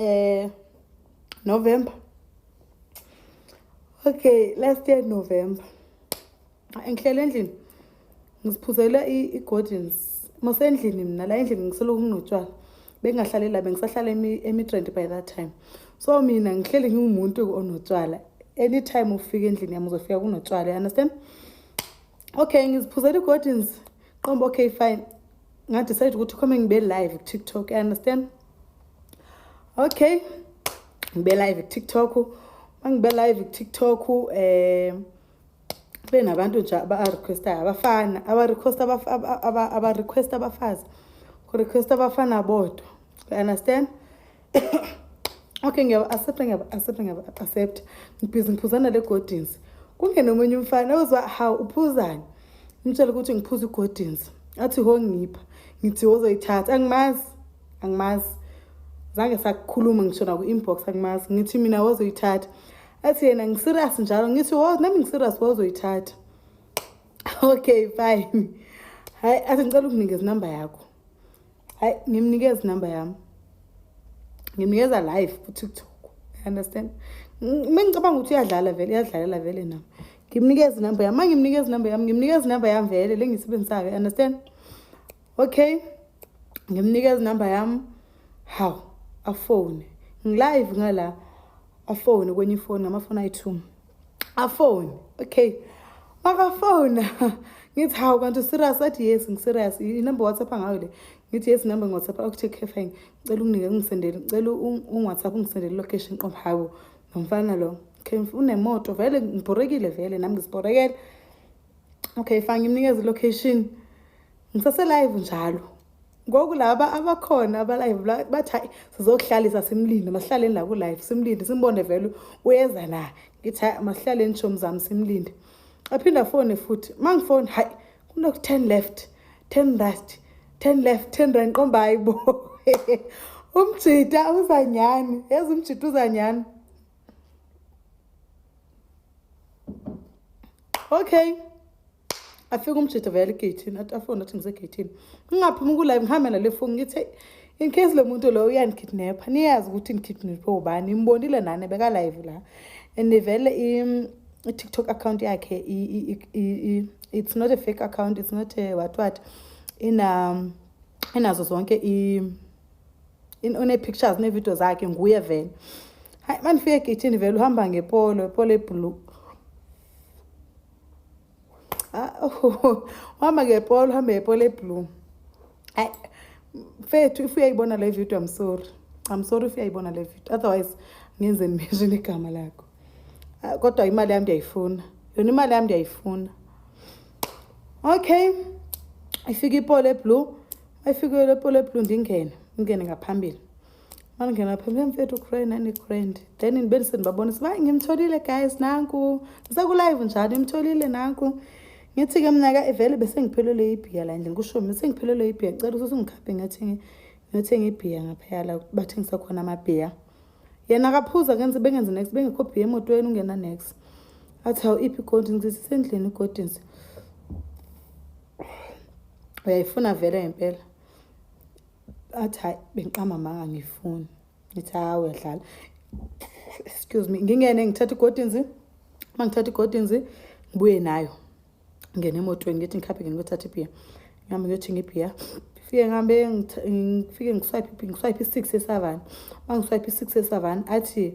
eh November okay last year November ngihlele endlini ngiziphuzela i-gordons masendlini mina la endlini ngiseloku nginotshwala bengingahlali la bengisahlala emidrand by that time so mina ngihleli ngingumuntu onotshwala anytime ufika endlini yami uzofika kunotshwala you understand okay ngiziphuzela i-gordons qomba okay fine ngadicide ukuthi khome ngibe live kutiktok you understand okay ngibe live kutiktok mangibe live kutiktok um eh, kube nabantu nje abarequestayo abafana abarequesta abarequesta abafazi kurequesta abafana bodwa you understand okay ngiyabaaccepta ngiyabaaccepta ngiyabaaccepta ngibhizi ngiphuzana le godins kungena omunye umfana ozwa hawu uphuzani ngimtshela ukuthi ngiphuza igodins athi ho ngipha ngithi wozoyithatha angimazi angimazi zange sakukhuluma ngisho naku-inbox angimazi ngithi mina wozoyithatha athi yena ngiserious njalo ngithi wo nami ngiserious wozoyithatha okay fine hayi athi ngicela ukunikeza inamba yakho hayi ngimnikeza inamba yami ngimnikeza live kutiktok understand mina ngicabanga ukuthi uyadlala vele uyadlalela vele nami ngimnikeza inamba yami ma ngimnikeza inamba yami ngimnikeza inamba yami vele le ngiyisebenzisayo understand okay ngimnikeza inamba yami hawu afone ngilive ngala afone kwenye ifoni ngamafoni ayi-two afone okay makafona ngithi hawu kanti userious athi yes ngiserious inumber whatsapp angayo le ngithi yes number ngwhatsapp akuthi okay fine ngicela unginike ungisendele ngicela ungwhatsapp ungisendele location qom hawu nomfana lo okay unemoto vele ngibhorekile vele nami ngizibhorekele okay fine ngimnikeza ilocation Ngisase live njalo. Ngoku laba abakhona aba live bathi hayi sizokuhlalisa simlinde masihlaleni la ku live simlinde simbone vele uyeza na. Ngithi hayi masihlaleni shomi zami simlinde. Aphinda phone futhi mangifone hayi kuno 10 left 10 right 10 left 10 right nqomba hayibo. Umjita uzanyani yazi umjita uzanyani. Okay. afike umjita vele egeyithini athi afone athi ngisegeyithini ngingaphumi kulive ngihambe nale foni ngithe in case lo muntu loyo uyanikidnapha niyazi ukuthi nikidnaphe ubani imbonile nani bekalive la and vele i-tiktok account yakhe it's not a fake account it's not a what what ina um, inazo zonke i une-pictures nevidiyo zakhe nguye vele hayi mandifike egeyithini vele uhamba ngepolo ipolo ebhulu Ah, oh, uhamba ngepolo uhamba ngepolo eblue ayi mfethu if uyayibona le video i'm sorry i'm sorry if uyayibona le video otherwise ngenze nimention igama lakho ah, kodwa imali yami ndiyayifuna yona imali yami ndiyayifuna okay ifika ipolo eblue ayifike lepolo eblue ndingene ngingene ngaphambili Mandingena phi mke mfethu ucray nani grand then ndibe ndisendibabonisa uba ngimtholile guys nanku ndisekulive njani imtholile nanku ngithi ke mna ka ivele besengiphelelwe ibhiya la ndlini kusho mina sengiphelelwe ibhiya cela ukuthi ungikhaphe ngathi ngiyothenga ibhiya ngaphayala bathengisa khona amabhiya yena akaphuza kenze bengenze next bengekho bhiya emotweni ungena next athi hawu iphi igodins ngithi sendlini igodins uyayifuna vele ngempela athi hayi bengiqamba manga ngifuni ngithi hayi uyadlala excuse me ngingene ngithatha igodinzi uma ngithatha igodinzi ngibuye nayo ngene emotweni ngithi ngikhaphe ngene kuyothatha ibhiya ngihambe ngiyothinga ibhiya fike ngihambe ngifike ngiswipe ngiswipe i-six esavani uma ngiswipe i-six esavani athi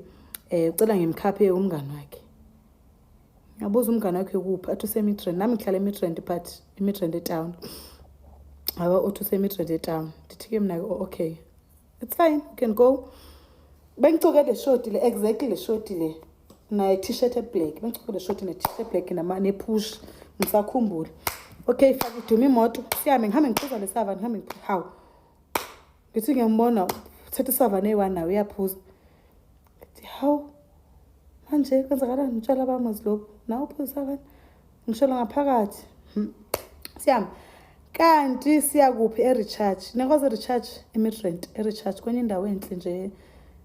um ucela ngimkhaphe umngani wakhe Ngiyabuza umngane wakhe kuphi athi usemidrand nami ngihlala emidrand but emidrand etown aba uthi usemidrand etown ndithi-ke mna-ke oh, okay it's fine you can go bengicoke le shoti le exactly le shoti le ne-t-shirt eblack bengicoke le shoti ne-t-shirt eblack nepush ngisakhumbula okay fake iduma imoto sihambe ngihambe ngiphuza lesava ngihambe hawu ngithi ngiyambona uthetha isava neyi-one nayo uyaphuza ngithi hawu manje kwenzakalani ngitshela abamazi lokhu nawe uphuzisa abanye ngisholo ngaphakathi hmm. siyama kanti siyakuphi e-recharge nekwazi e-recharge imidrant e-recharge kwenye indawo enhle nje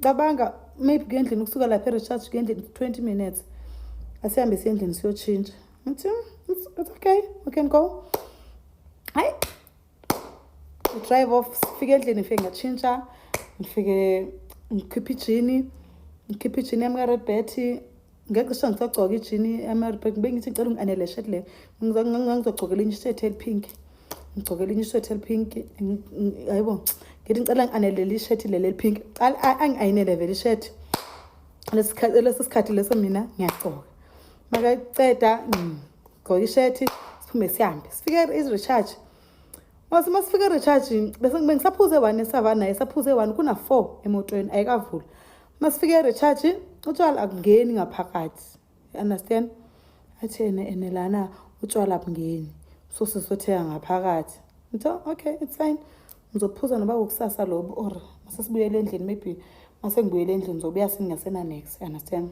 cabanga maybe kuya endlini ukusuka lapha erecharge kuya endlini 20 minutes asihambe siye endlini siyotshintsha ngithi it's, it's okay we can go hayi drive off sifike endlini ngifike ngatshintsha ngifike ngikhiphe ijini ngikhiphe ijini yami ka-red betty ngeke kusho ngisagcoka ijini emaribek ngibe ngithi ngicela ungi-anele shet le ngizogcoka elinye ishethi elipink ngigcoka elinye ishethi elipink hayi bo ngithi ngicela ngi-anelele ishethi leli elipink angi-ayinele vele ishethi lesi sikhathi leso mina ngiyagcoka makaceda ngigcoka ishethi siphume sihambe sifike i-recharge mase uma sifike e-recharge bengisaphuze one esavanaye saphuze one kuna-four emotweni ayikavula masifike erecharge utshwala akungeni ngaphakathi understand athi ene ene lana utshwala bungeni so sizotheka ngaphakathi ngitho okay it's fine ngizophuza noba kokusasa lobo or masesibuyele endlini maybe masengibuyele endlini ngizobuya singasenanex understand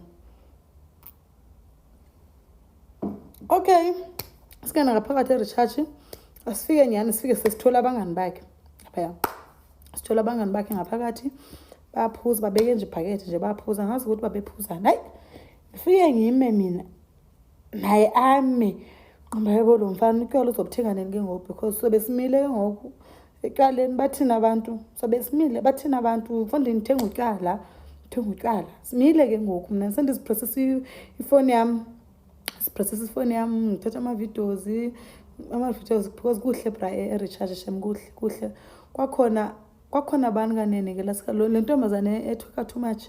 okay singena ngaphakathi erecharge asifike nyhani sifike sesithola abangani bakhe phaya sithola abangani bakhe ngaphakathi baphuza babeke nje ibhakethe nje baphuza ngazi ukuthi babephuzani hayi ngifike ngime mina naye ame nqomba yebo lo mfana utywala uzobuthenga nini ke ngoku because sobe simile ke ngoku Ekuqaleni bathini abantu sobe simile bathini abantu mfonde ngithenga utywala ngithenga utywala simile ke ngoku mna sendiziprosesa ifoni yam siprosesa ifoni yam ngithatha ama-videos ama-videos because kuhle bra erecharge shem kuhle kuhle kwakhona kwakhona abantu kanene ke lasika le ntombazane ethoka too much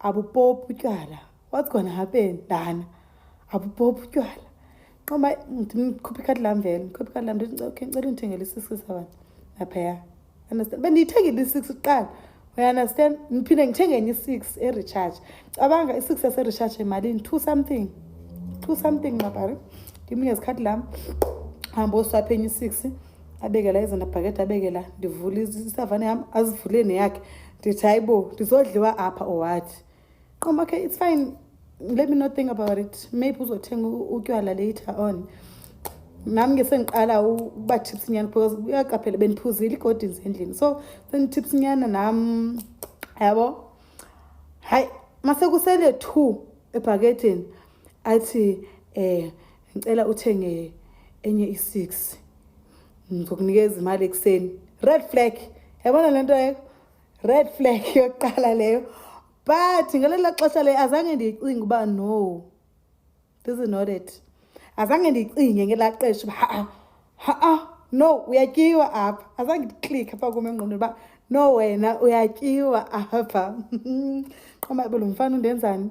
abupophi utywala what's gonna happen dana abupophi utywala nqoma ndikhuphe ikhadi lam vele ndikhuphe ikhadi lam ndithi okay ndicela undithengele i-six seven naphaya understand bendiyithengile i-six kuqala we understand ndiphinde ngithenge enye i-six erecharge cabanga i-six yaserecharge emalini two something two something nqabari ndimunye zikhathi lam hambe oswaphe enye i-six abekela izona bhakede abekela ndivule isavane yam azivule neyakhe ndithi hayi bo ndizodliwa apha or what qoma okay it's fine let me not think about it maybe uzothenga utywala later on nam ke sendiqala uba tips nyana because uyaqaphela bendiphuzile igodins endlini so senditips nyana nam yabo hayi masekusele two ebhakethini athi um ngicela uthenge enye i-six ngizokunikeza imali ekuseni red flag yabona le nto leyo red flag yokuqala leyo but ngelela xesha leyo azange ndiyicinge uba no this is not it azange ndiyicinge ngelaa qesha uba ha-a ha-a no uyatyiwa apha azange ndiklik apha kum engqondweni uba no wena uyatyiwa apha qoma belo mfana undenzani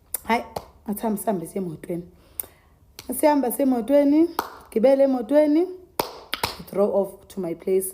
hayi ngathi hambe sihambe siye emotweni sihamba semotweni gibele emotweni throw off to my place